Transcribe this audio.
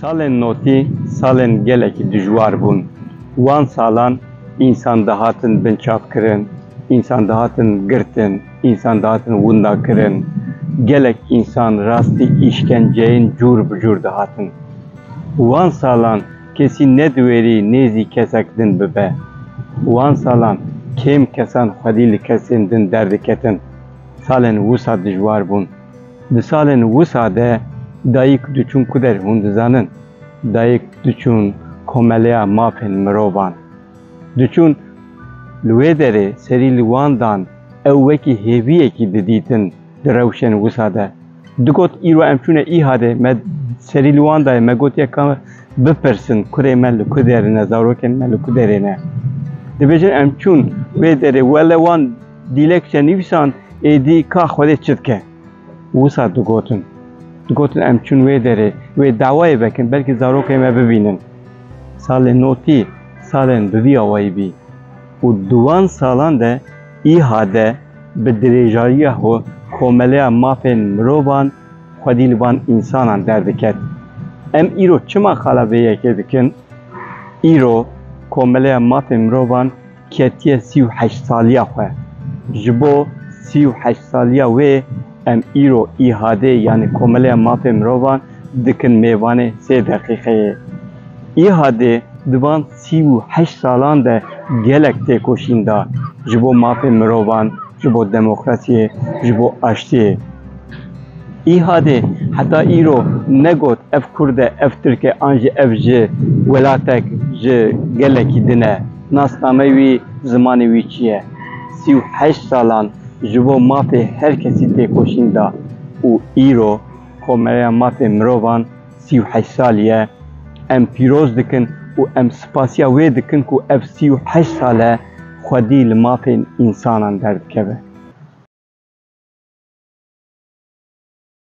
Salên notî salên gelekî dijwar bûn. Wan salan însan dihatin binçavkirin, însan dihatin girtin, însan dihatin windakirin. Gelek însan rastî îşkenceyên cûr bi cûr dihatin. Wan salan kesî nediwêrî nêzî kesek din bibe. Wan salan kêm kesan xwedî li kesên din derdiketin. Salên wisa dijwar bûn. Di salên wisa de dayik diçûn ku der hûn dizanin dayik diçûn komeleya mafên mirovan diçûn li wê derê serî li wan dan ew wekî hêviyekî didîtin di rewşên wisa de digot îro em çûne îhadê me serî li wan dayê me gotiye ka bipirsin kurê me li ku derine zarokên me li ku derê ne dibêjin em çûn wê derê wele wan Dîlek çend nivîsan êdî ka Xwedê çi dike? Wisa digotin. Digotin em çûn wê derê, wê dawayê vekin belkî zarokên me bibînin. Salên notî salên bi vî awayî bî û di wan salan de îha de bi dirêjariya xwe komeleya mafên mirovan xwedî li van însanan derdiket. Em îro çima qala vê yekê dikin? Îro komeleya mafên mirovan Ketiye sî û heşt saliya xwe. Ji bo sî û heşt saliya wê em îro IHAD yanî Komeleya Mafê Mirovan dikin mêvanê sê deqîqeyê. IHAD di van sî û heşt salan de gelek têkoşîn da ji bo mafê mirovan, ji bo demokrasiyê, ji bo aştiyê. IHAD heta îro negot ev kurd e, ev tirk e an jî ev ji welatek, ji gelekî din e. Nasnameyê wî, zimanê wî çi ye? Sî û heşt salan ji bo mafê her kesî têkoşîn da û îro Komereya Mafê Mirovan sî û heşt salî ye. Em pîroz dikin û em spasiya wê dikin ku ev sî û heşt sal e xwedî li mafên însanan derdikeve.